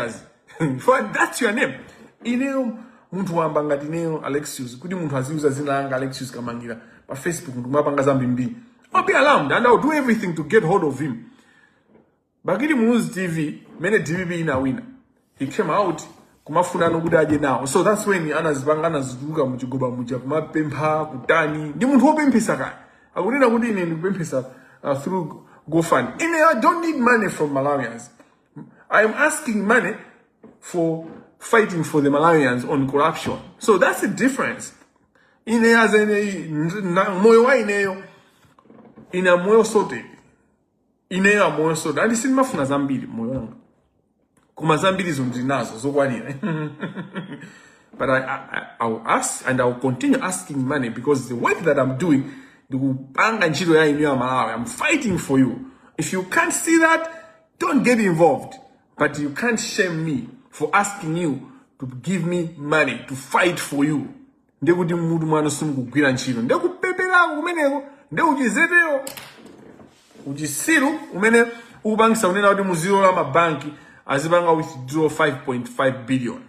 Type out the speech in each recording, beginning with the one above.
mkazi But that's your name ineyo munthu wamba ngati ineyo alexius kuti munthu aziuza dzina langa alexius kamangila pa facebook ndikumapanga zambimbiri i'll be alarmed and i'll do everything to get hold of him bakili muluzi tv mene dpp inawina he came out kumafuna maudindo kuti adye nawo so that's when anazipanga anazituluka muchigoba muja kumapempha kutani ndi munthu wopemphesa kaya akunena kuti ine ndikupemphesa uh, through gofund ine i don't need money from malawians I am asking money for fighting for the Malawians on corruption. So that's the difference. Ine, as ine, moyo wa ineyo, ine moyo wanga, ine moyo wanga, and ine sindimafuna zambiri moyo wangu. Koma zambiri zo ndili nazo, zokwanira. But I, I, I will ask and I will continue asking money because the work that I'm doing, ndikupanga ntchito ya inuyo aMalawi, I'm fighting for you. If you can't see that, Don't get involved. But you can't shame me for asking you to give me money to fight for you. Ndekuti mutu mwanu sukugwira ntchito. Nde kupeperako kumeneko. Nde uchidzetewo. Uchisiru umene ukupangisa kunena kuti muzilola mabanki azipanga withdraw 5.5 billion.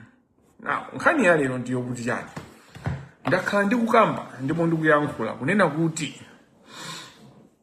Now, nkhani ya lero ndi yokuti chani. Ndakhala ndikukamba ndipo ndikuyankhula kunena kuti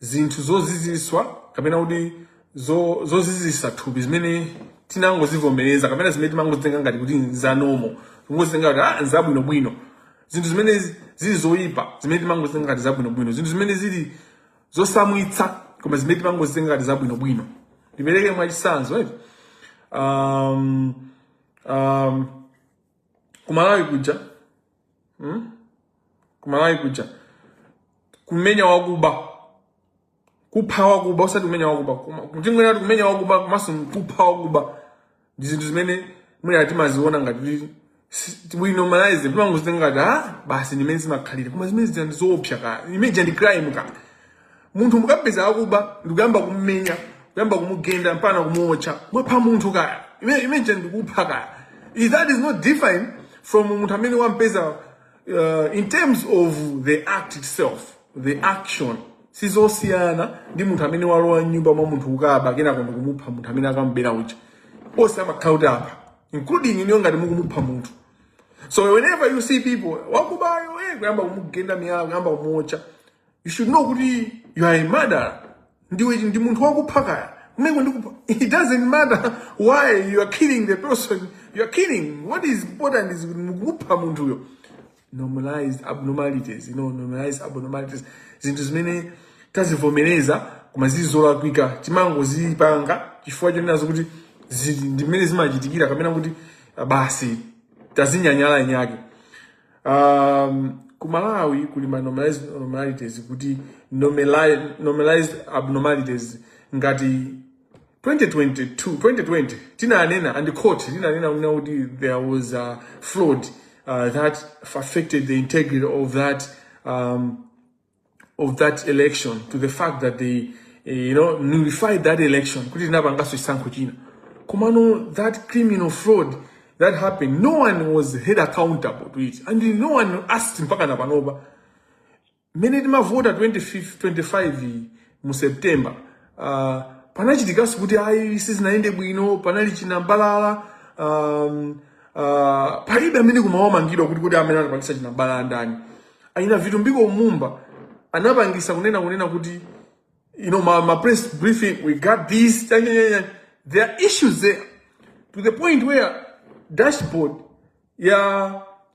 zinthu zoziziswa kapena kuti zo- zozizisa thupi zimene tinangozivomereza kapena zimene timangozitenga ngati kuti nza normal tingozitenga kuti ah nzabwinobwino zinthu zimene zi- zili zoyipa zimene timangozitenga ngati zabwinobwino zinthu zimene zili zozizwitsa koma zimene timangozitenga ngati zabwinobwino ndipereke mwachitsanzo eti um, um, kumalawi kuja hmm? kumalawi kuja kumenya wakuba kupha wakuba usati kumenya wakuba tingonena kuti kumenya wakuba komanso kupha wakuba ndi zinthu zimene mwina timaziona ngati normalize timangozitenga ngati ah basi ndimene zimakhalira koma zimene zija ndi zoopsa ka imene ija ndi crime ka munthu mukapeza wakuba ndikuyamba kumumenya kuyamba kumugenda mpaka kumuotcha mwapha munthu ka Ime- imeneja ndikupha ka That is not different from munthu amene wampeza uh, in terms of the act itself the action sizosiyana ndi munthu amene walowa mnyumba mwa munthu kukaba kenako ndikumupha munthu amene akamubera uja onse amakhala kuti apha including inuyo ngati mukumupha munthu so whenever you see people wakubayo eh, kuyamba kumugenda miyala kuyamba kumuotcha you should know kuti you are a murderer ndiwe ndi munthu wakupha kaya kumeneko ndikupha it doesn't matter why you are killing the person you are killing what is important is kuti mukupha munthuyo normalized abnormalities you know normalized abnormalities zinthu zimene tazivomereza koma zili zolakwika timangozipanga chifukwa chonenazo kuti zili ndimene zimachitikira kapena kuti basi tazinyanyala inyake um, ku malawi kuli ma normalized abnormalities kuti normalized, normalized abnormalities ngati 2022 2020 tinanena and court linanena kunena kuti there was a fraud uh, that affected the integrity of that um, of that election to the fact that they eh, you know nullified that election kuti tinapanganso chisankho china komano that criminal fraud that happened no one was held accountable to it and no one asked mpaka na panopa mmene timavota 25 iyi mu september uh, panachitikanso kuti ayi sizinayende bwino panali chinambalala um, uh, palibe amene anamangidwa kuti kuti amene anapangisa chinambalala ndani a ina Vitumbiko Mumba anapangisa kunena kunena kuti you know ma, ma press briefing we got this cha- cha- cha- cha. there are issues there to the point where dashboard ya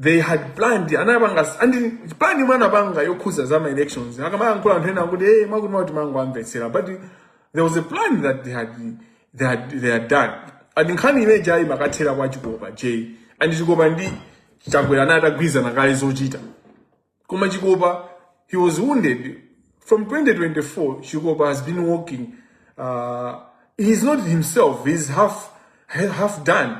they had planned anapanga and plan yomwe anapanga yokhuza za elections akamayankhula anthu ena kuti hey mwakuti mwakuti mangoamvetsera but there was a plan that they had they had, they had done and nkhani imene ija imakathera kwa Chikopa J and Chikopa ndi Chakwera anatagwirizana kale zochita koma chikopa he was wounded from 2024 chikopa has been walking uh, he is not himself he is half, half done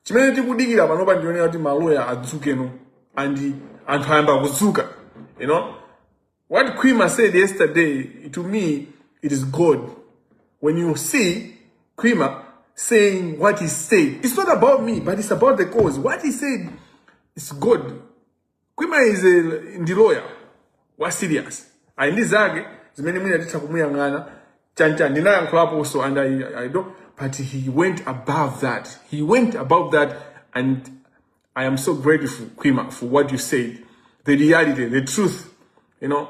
chimene tikudikira panopa ndionera kuti maloya adzukeno and anthu ayamba kudzuka you know what quima said yesterday to me it is god when you see quima saying what he said it's not about me but it's about the cause what he said is good Kwima is a, ndi lawyer wa serious. Ali ndi zake zimene mwina titha kumuyang'ana chonchi ndinayankhulaponso and I, I don't but he went above that. He went above that and I am so grateful Kwima for what you said. The reality, the truth, you know.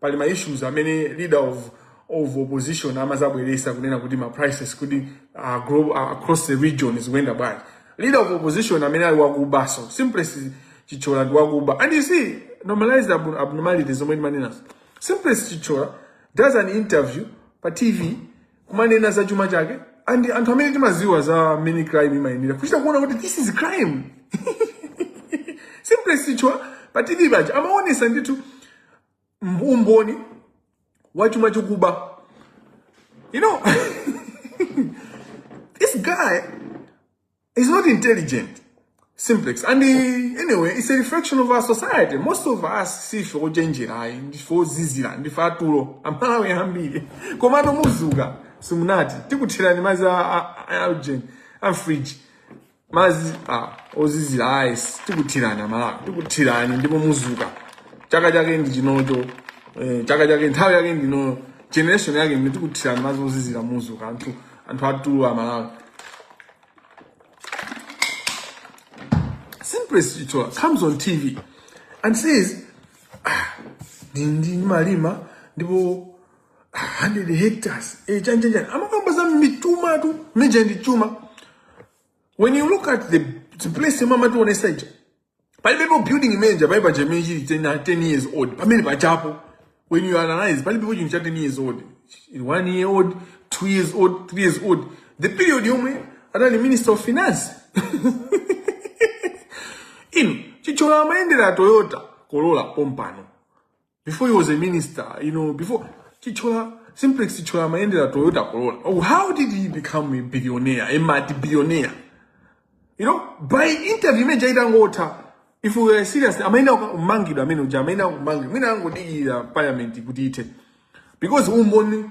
pali ma issues amene leader of of opposition amazabweresa kunena kuti ma prices kuti uh, grow, uh, across the region zikuyenda bwanji leader of opposition amene ali wakuba so Simplex Chithyola ndi wakuba and you see normalized abnormality abnormalities zomwe ndimanenazo Simplex Chithyola does an interview pa tv kumanena za chuma chake and anthu amene timaziwa za mmene crime imayendera kuchita kuona kuti this is crime Simplex Chithyola pa tv paja amaonesa ndithu umboni wa chuma chokuba you know this guy It's not intelligent. Simplex. And the, eh, anyway, it's a reflection of our society. Most of us see for Jenjira, for Zizira, for Faturo, and Malawi Hambi. Commando Muzuga, Sumunati, Tikutira, and Maza Algen, and Fridge. Mazi, ah, Ozizira, eyes, Tikutira, and Malawi, Tikutira, and Demo Muzuga. Chaka Chaka in the Ginojo, eh, Chaka Chaka in Tawag in the No, Generation Agin, Tikutira, and Mazo Zizira Muzuga, and Faturo, and Malawi. Simplest Chitola comes on TV and says, ah, ndindi malima ndipo ah, 100 hectares eh, chani chani chani amakamba za mituma tu mija ndi chuma when you look at the, the place imwe amatiwonesa ija palibepo building manager pali paja imene chili 10 10 years old pamene pachapo when you analyze palibepo chinthu cha 10 years old one year old two years old three years old the period yomwe anali minister of finance inu Chithyola amayendera toyota corolla pompano before he was a minister you know before Chithyola Simplex Chithyola amayendera toyota corolla oh, how did he become a billionaire a multi billionaire you know pa interview imene ija itangotha if we were serious amayenera kumangidwa amene uja amayenera kumangidwa mwina angodikira parliament kuti ithe because umboni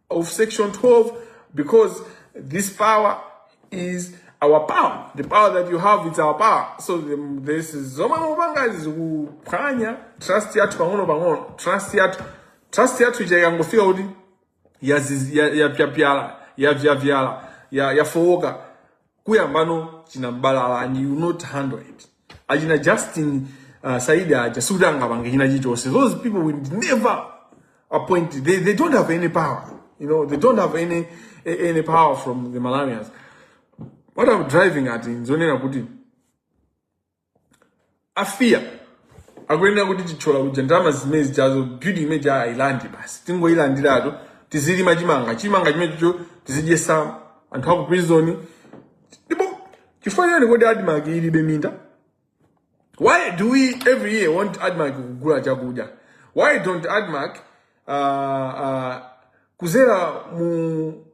of section 12 because this power is our power the power that you have it's our power so izi zomwe mukupanga zikuphwanya trust yathu pang'ono pang'ono trust yathu trust yathu ija ikangofika kuti yaziz- ya- yapyapyala yavyapyala ya- yafowoka kuyambano chinambalala and you not handle it achina justin uh, saidi aja sikuti angapange china chichonse those people will never appoint they, they don't have any power you know they don't have any a- any power from the malawians what i'm driving at nzonena kuti mafia akuyenera kuti tichotsa kuja ndalama zimene zijazo building imene ija tiyilande basi tingoyilandiratu tizilima chimanga chimanga chimenecho tizidyetsa anthu aku prison ndipo chifukwa chani kodi admarc ilibe minda why do we every year want admarc kugula chakudya why don't admarc uh, uh, kudzera mu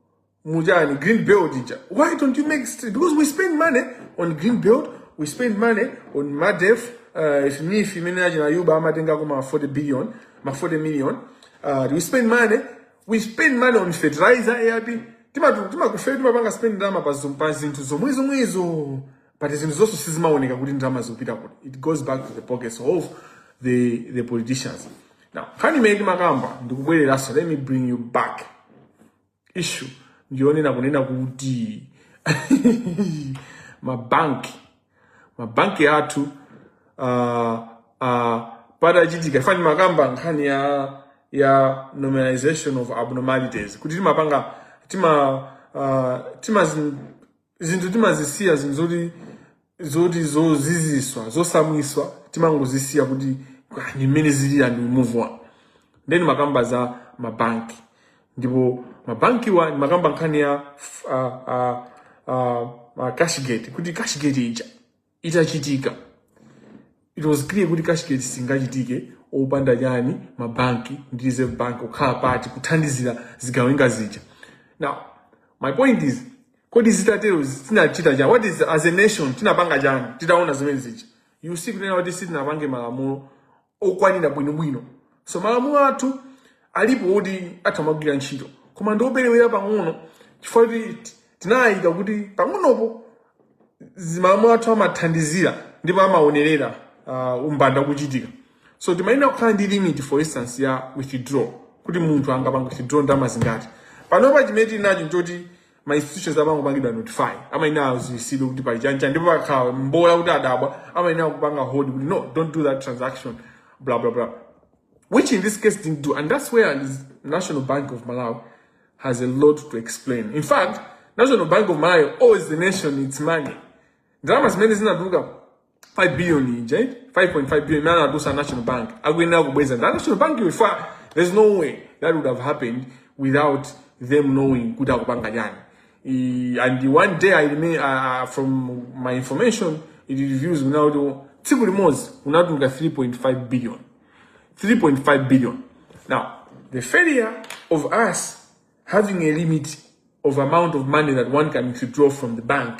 Mujani, green belt. Why don't you make street? Because we spend money on green belt, we spend money on MADEF, uh, if me, if you mean, you buy my thing, I go 40 billion, my 40 million. Uh, we spend money, we spend money on fertilizer, AIP. Tima tima kufe tima banga spend ndama pa zum pa zintu zo mwezo mwezo but zinthu zonse sizimaoneka kuti ndalama zikupita kuti it goes back to the pockets of the the politicians now khani imene timakamba ndikubwereranso let me bring you back issue ndiyonena kunena kuti mabanki mabanki athu uh, uh, patachitika kani ndimakamba nkhani ya ya normalization of abnormalities kuti timapanga tima uh, timazi zinthu timazisiya zinthu zoti zoti zozizwitsa zodabwitsa timangozisiya kuti "Ah, ndi mmene zili and we move on nde ndimakamba za mabanki ndipo mabankiwa ndimakamba nkhani ya uh, uh, uh, uh, cashgate kuti cashgate ija itachitika it was clear kuti cashgate singachitike opanda chani mabanki ndi reserve bank kukhala part kuthandizira zigawenga zija now my point is kodi zitatero tinachita chani what did as a nation tinapanga chani titaona zimene zija you see kunena kuti sitinapange malamulo okwanira bwinobwino so malamulo athu alipo oti atha kumagwira ntchito koma ndi operewera pang'ono chifukwa choti tinayika kuti pang'onopo malamulo athu amathandizira ndipo amawonerera uh, umbanda kuchitika so timayenera kukhala ndi limit for instance ya withdraw kuti munthu angapanga withdraw ndalama zingati panopa chimene tili nacho nchoti ma institutions amangopangidwa notify amayenera adziwitsidwe kuti pali chakuti ndipo pakakhala poti adabwa amayenera kupanga hold kuti no don't do that transaction blah blah blah which in this case didn't do and that's where the national bank of malawi has a lot to explain in fact national bank of malawi owes the nation its money ndalama zimene zinatuluka 5 billion ija eh? 5.5 billion imene anadusa national bank akuyenera kubweza nda national bank ifa there's no way that would have happened without them knowing kuti akupanga chani I- and one day I remain, uh, from my information it reviews now kuti tsiku limodzi unatuluka 3.5 billion 3.5 billion. Now, the failure of us having a limit of amount of money that one can withdraw from the bank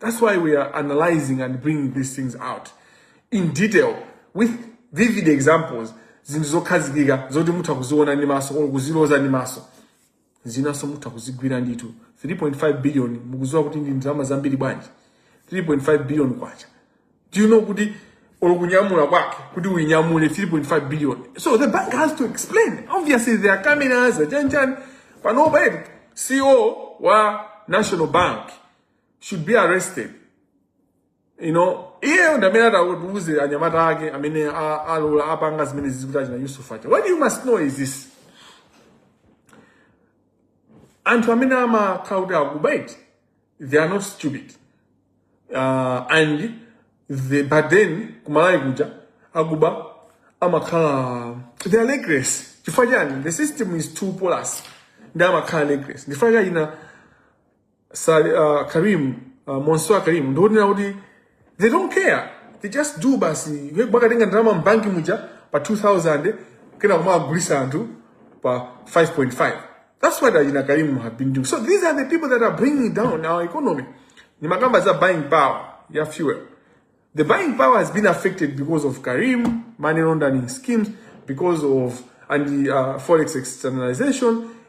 That's why we are analyzing and bringing these things out in detail with vivid examples zinthu zokhazikika zoti mutha kuziona ndi maso or kuziloza ndi maso zinanso mutha kuzigwira ndithu 3.5 billion mukudziwa kuti ndi ndalama zambiri bwanji 3.5 billion kwacha do you know kuti olokunyamula kwake kuti uinyamule 3.5 billion so the bank has to explain obviously there are cameras achanichani panopa eti ceo wa national bank should be arrested you know iyeyo ndi amene atatiuze anyamata ake amene a- alola apanga zimene zija kuti achina yusuf acha what you must know is this anthu amene amakhala kuti akuba eti they are not stupid uh, and the, but then kumalawi kuja akuba amakhala they are reckless chifukwa chani the system is too porous ndi amakhala reckless ndi chifukwa chake achina uh, karim uh, mansoor karim ndikuonera kuti they don't care they just do basi iwe bakatenga ndalama mbanki muja pa 2000 kena kumagulisa anthu pa 5.5 that's what achina karimu have been doing so these are the people that are bringing down our economy ni makamba za buying power ya fuel the buying power has been affected because of karim money laundering schemes because of and the uh, forex externalization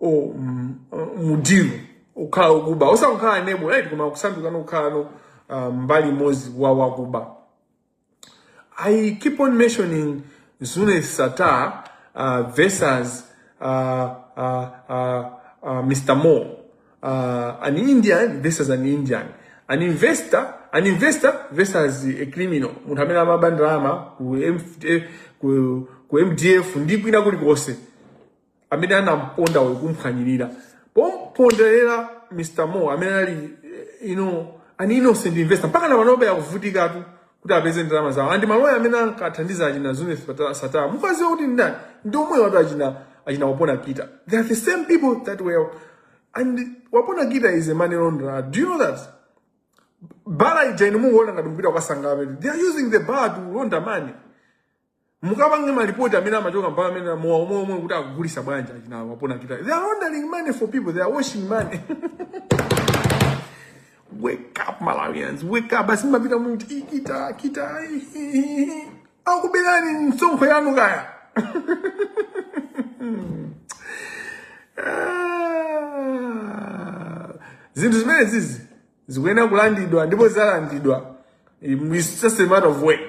o- m- m'dilu ukhala okuba osati kukhala enabler eti koma kusandukano kukhalano uh, mbali imodzi wa wakuba I keep on mentioning Zuneth Sattar uh, versus uh, uh, uh, uh, Mr. Mo, uh, an Indian versus an Indian, an investor, an investor versus a criminal. Munthu amene amaba ndalama ku MF ku- ku MDF ndi kwina kulikonse amene anamponda uyu kumphwanyirira kumpondereza mr mo amene ali eh, you know, an innocent investor mpaka na panobe akuvutikatu kuti apeze ndalama zawo andi maloya amene ankathandiza achina zuneth sattar mukuziwa kuti ndani ndi omwewatu achina achina wapona kita they are the same people that were and wapona kita is a money launderer do you know that bala ija inu mungoona ngati mupita kukasangalala they are using the bar to launder money mukapanga malisiti amene amachoka mpaka amene amamwa omwe omwe kuti akugulisa bwanji achina wapona kita they are laundering money for people they are washing money wake up malawians wake up basi mumapita muti "Ih, kita kita ih, ih, ih, ih." akubelani msonkho yanu kaya Ah. zinthu zimene zizi zikuyenera kulandidwa ndipo zizalandidwa It's just a matter of when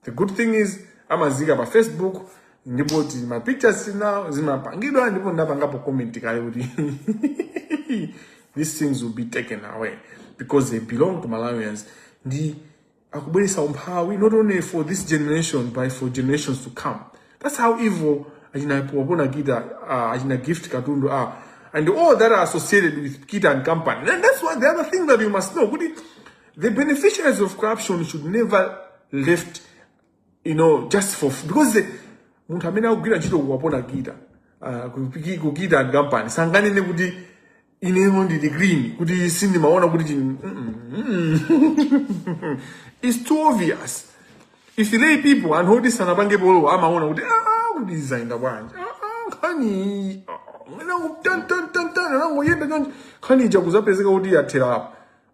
the good thing is amazika pa facebook ndipo tili ndi ma pictures now zimapangidwa ndipo ndapangapo comment kale kuti these things will be taken away because they belong to malawians ndi akubweresa umphawi not only for this generation but for generations to come that's how evil achina wapona kita uh, achina gift katundu are and all that are associated with kita and company and that's what the other thing that you must know kuti The beneficiaries of corruption should never left, you know, just for because the, munthu amene akugwira ntchito kuwapona gita uh, kupiki- kuchita ndi kampani sanganene kuti ineyo ndili green kuti sindimaona kuti chini- mm, mm, mm. it's too obvious if lay people anthu oti sanapange polowa amaona kuti "Ah, kuti zaenda bwanji Ah, ah, nkhani ah, nangu tan- tan- tan- tan, nangoyenda chonchi nkhani ija kuzapezeka kuti yathera apa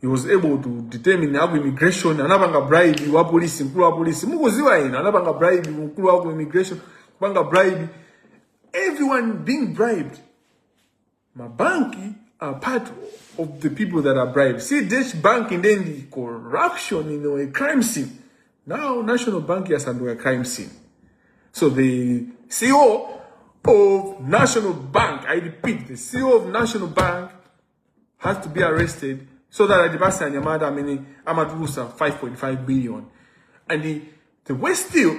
he was able to determine aku immigration anapanga bribe wa police mkulu wa police mukuziwa ina anapanga bribe mkulu wa ku immigration kupanga bribe everyone being bribed mabanki are part of the people that are bribed see this bank then the corruption you know a crime scene now national bank yasanduka crime scene so the ceo of national bank i repeat the ceo of national bank has to be arrested so that atipatse anyamata amene amatulusa 5.5 billion and the, the worse still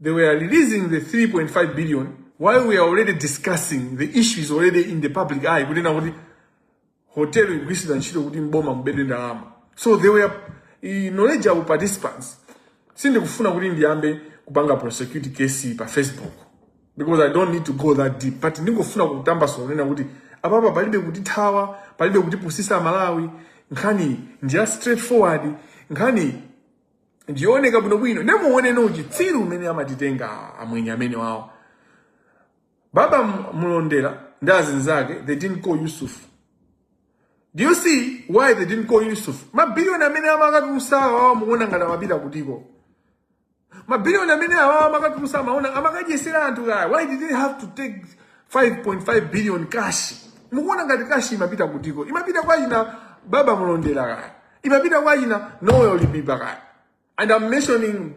they were releasing the 3.5 billion while we are already discussing the issue is already in the public eye kunena kuti hotel ikugwiritsidwa ntchito kuti m'boma mubedwe ndalama so they were knowledgeable participants sindikufuna kuti ndiyambe kupanga prosecute case pa facebook because i don't need to go that deep but ndingofuna kutambasula kunena kuti apapa palibe kutithawa palibe kutipusisa amalawi nkhani ndiya straightforward nkhani ndiyooneka bwinobwino nde muone uchitsiru umene amatitenga amwenye amene wawo baba M- mulondera ndi azinzake they didn't call yusuf do you see why they didn't call yusuf mabiliyoni amene amakatulusa awawa mukuona ngati amapita kutiko mabiliyoni amene awawa amakatulusa amaona amakadyesera anthu kaya why did they have to take 5.5 billion cash mukuona ngati cash imapita kutiko imapita kwa ina baba mulondera kaya imapita kwa ina noel libiba kaya and i'm mentioning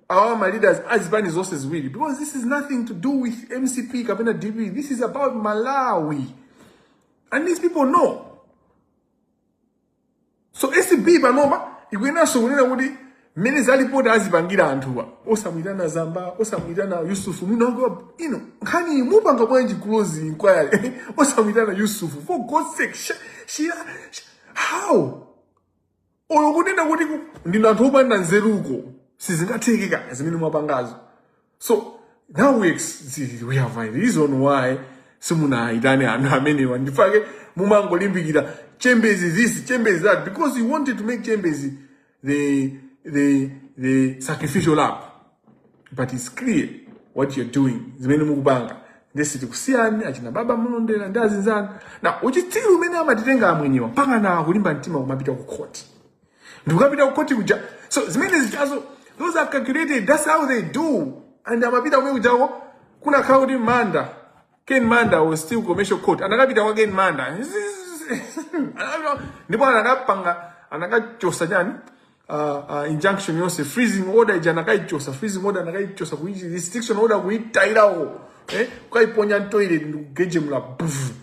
our my leaders azipani zonse ziwiri because this is nothing to do with mcp kapena dpp this is about malawi and these people know so acb panopa ikuyenanso kunena kuti mmene za lipoti azipangira anthuwa osamuyitana zamba osamuyitana yusufu mwina ino nkhani mupanga bwanji close inquiry osamuyitana yusufu for god's sake sh- shira sh- how olo kunena kuti ku- ndinu anthu opanda nzeruko sizingatheke zimene mwapangazo so now we, ex- we have a reason why simunaitane anthu amenewa ndi chifukwa chake mumangolimbikira chembezi this chembezi that because you wanted to make chembezi the, the, the sacrificial lamb but it's clear what you're doing zimene mukupanga nde sitikusiyani achina baba mulondera ndi azinzanu na uchitsiru umene amatitenga amwenyewa mpaka na kulimba mtima kumapita ku khoti ndikukapita kukoti kuja so zimene zijazo those are calculated that's how they do and amapita kumene kujawo kunakhala kuti manda ken manda was still commercial court anakapita kwa ken manda Anakapita- ndipo anakapanga anakachosa chani uh, uh, injunction yonse freezing order ija anakaichosa freezing order anakaichosa kuichi restriction order kuitayira uko eh? ukaiponya mtoilet ndikugejemula bvu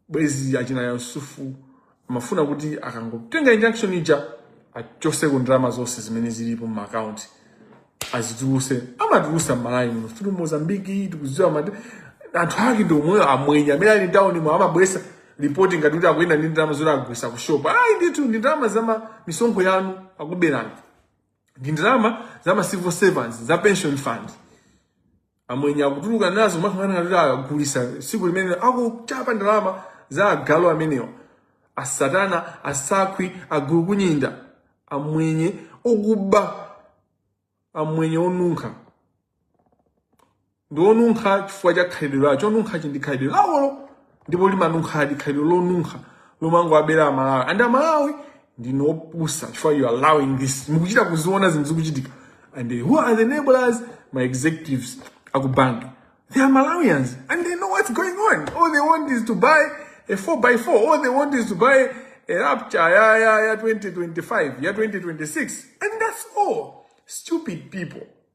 bwezi achina yusufu amafuna kuti akangotenga injunction ija achoseko ndalama zonse zimene zilipo m'maakaunti azituluse amatulusa m'malawi muno via Mozambiki tikuziwa kuti anthu ake ndi omweyo amwenya amene ali mtawunimwa amabweza ripoti ngati kuti akuyenda ndi ndalama zoti agulisa ku shopu ayi ndithu ndi ndalama za ma- misonkho yanu akuberani ndi ndalama za ma civil servants za pension fund amwenye akutuluka nazo kumakhala ngati kuti akugulisa tsiku limenelo akuchapa ndalama za agalu amenewa asatana asakhwi agulukunyinda amwenye okuba amwenye onunkha ndi onunkha chifukwa cha khalidwe lawo chonunkha chili ndi khalidwe lawolo ndipo limanunkhadi khalidwe lonunkha lomangowabera amalawi and amalawi ndinu opusa chifukwa you are allowing this mukuchita kuziona zinthu zikuchitika and they- who are the enablers ma executives akubanki they are malawians and they know what's going on all they want is to buy a 4x4 all they want is to buy a Raptor ya, ya, ya 2025 ya 2026 and that's all stupid people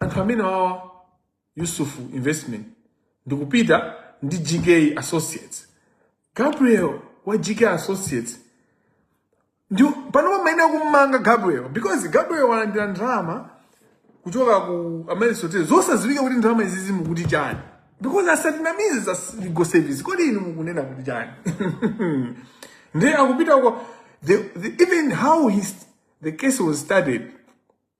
anthu amene wa yusuf investment ndikupita ndi gk associates gabriel wa gk associates ndi panopa mwina akummanga gabriel because gabriel walandira ndalama kuchoka ku Amaryllis Hotel zosadziwika kuti ndalama zizi mukuti chani because asatinamize za legal service kodi inu mukunena kuti chani ndiye akupita uko the, the, even how his, the case was started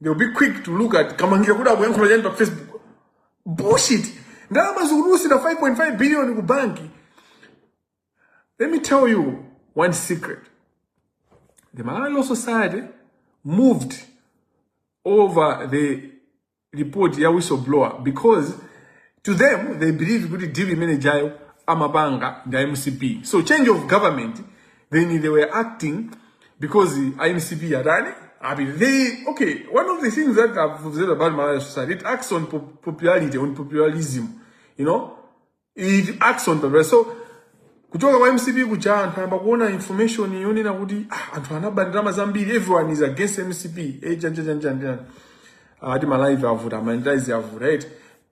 They'll be quick to look at kamangira kuti akuyankhula chani pa Facebook. Bullshit. Ndalama zikutulusira 5.5 billion ku banki. Let me tell you one secret. The Malawi Law Society moved over the report ya whistleblower because to them they believe kuti deal imene ijayo amapanga ndi a mcp so change of government then they were acting because a MCP atani. I mean, they, okay, one of the things that I've observed about Malawi Law Society, it acts on popularity, on popularism, you know? It acts on popularity. So, kuchoka kwa MCP kuja anthu ayamba kuona information yonena kuti ah, anthu anaba ndalama zambiri everyone is against MCP eh, janjanjanjanjan ati ah, Malawi avuta Malawi avuta right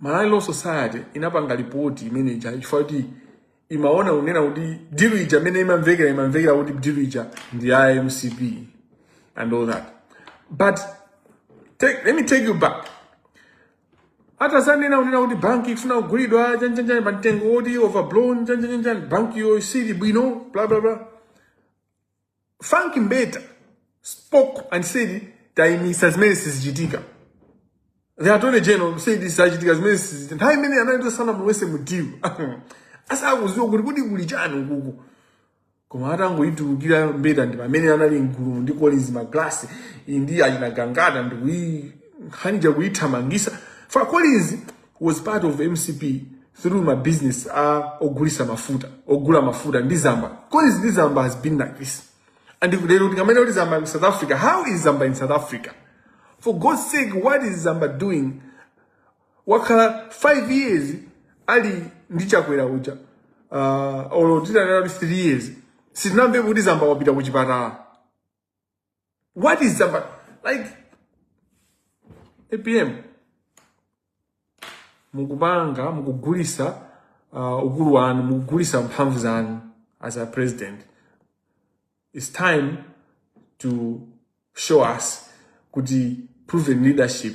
Malawi Law Society inapanga lipoti imene ija chifukwa choti imaona kunena kuti dilu ija imene imamvekera imamvekera kuti dilu ija ndi ya mcp and all that but take, let me take you back atadzanena kunena kuti banki ikufuna kugulidwa chanjanjani pa mtengo woti overblown chanjanjanjani banki iyo isali bwino bla bla bla Frank Mbeta spoke and said taimisa zimene sizichitika. The attorney general said sizachitika zimene sizichitika. Nthawi imene anali asanamulowese mu deal. Asakuziwa kuti kuti kuli chani ukuku. Koma atangoyitulukira Mbeta ndi pamene anali mgulu ndi Collins Maglasi ndi achina Gangata ndi kuyiika nkhani ija kuyithamangisa. Fa Collins was part of mcp through my business ya ogulisa mafuta ogula mafuta ndi zamba cause zamba has been like this and if lero tikanene kuti zamba in south africa how is zamba in south africa for god's sake what is zamba doing wakhala 5 years ali ndi chakwera uja uh, olo titanena kuti 3 years sitinamvepo kuti zamba wapita ku chipatala What is the like APM mukupanga mukugulisa uh, ukulu wanu mukugulisa mphamvu zanu as a president it's time to show us kuti proven leadership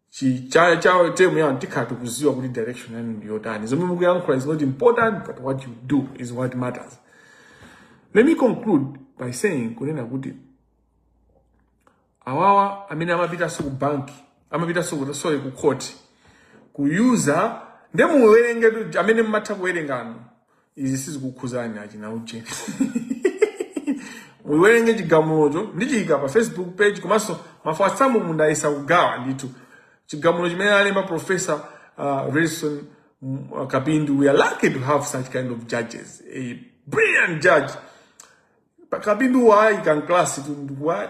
chi cha cha term yanu tikhala tikuziwa kuti direction yanu ndi yotani zomwe mukuyankhula is not important but what you do is what matters let me conclude by saying kunena kuti awawa amene amapitanso ku banki amapitanso ku sorry ku court kukawuza nde muwerengetu amene mmatha kuwerengano izi sizikukhuzani achina uje muyiwerenge chigamulocho ndichiyika pa facebook page komanso ma WhatsApp mu mundayesa kugawa ndithu chigamulo chimene alemba professor uh, Wilson mm, uh, Kapindu we are lucky to have such kind of judges a brilliant judge Pa- Kapindu wayika mu class tu ndikuwa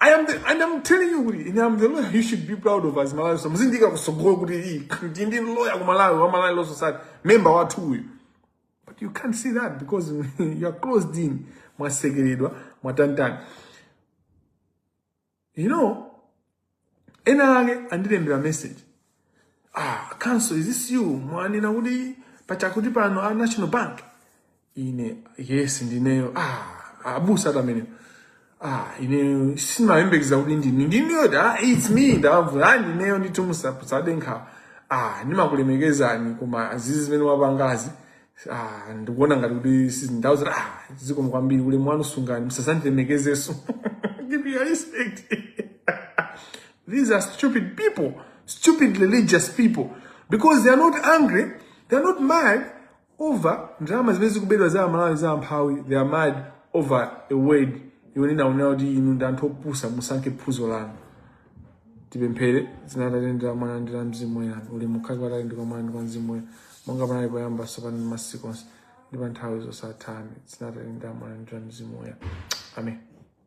I am the, and I'm telling you kuti ine I'm the lawyer you should be proud of as Malawians muzandiika kusogolo kuti iyi ndi ndi lawyer ku Malawi wa Malawi Law Society member wathu uyu but you can't see that because you are closed in mwasekeredwa mwatanitani you know ena ake andilembera message ah counsel is this you mwanena kuti pachakuti pano a national bank ine yes ndineyo ah abusa tamene ah ine sindimayembekeza kuti ndinu ndinuyo da it's me ndavula ah ndineyo ndithu musade nkhawa ah ndimakulemekezani koma zizi zimene mwapangazi Ah, ndikuona ngati kuti si- ndawauza kuti ah, zikomo kwambiri ulemu wanu sungani musazandilemekezenso keep your respect These are stupid people, stupid religious people, because they are not angry, they are not mad over ndalama zimene zikuberedwa za amalawi za amphawi, they are mad over a word iwo ndinaonera kuti inu ndi anthu opusa musankhe phunzo lanu. tipemphere m'dzina la atate ndi la mwana ndi la mzimu woyera ulemu ukhale kwa atate ndi kwa mwana ndi kwa mzimu woyera monga panali poyamba tsopano ndi masiku onse ndi pa nthawi zosatha amen m'dzina la atate ndi la mwana ndi la mzimu woyera amen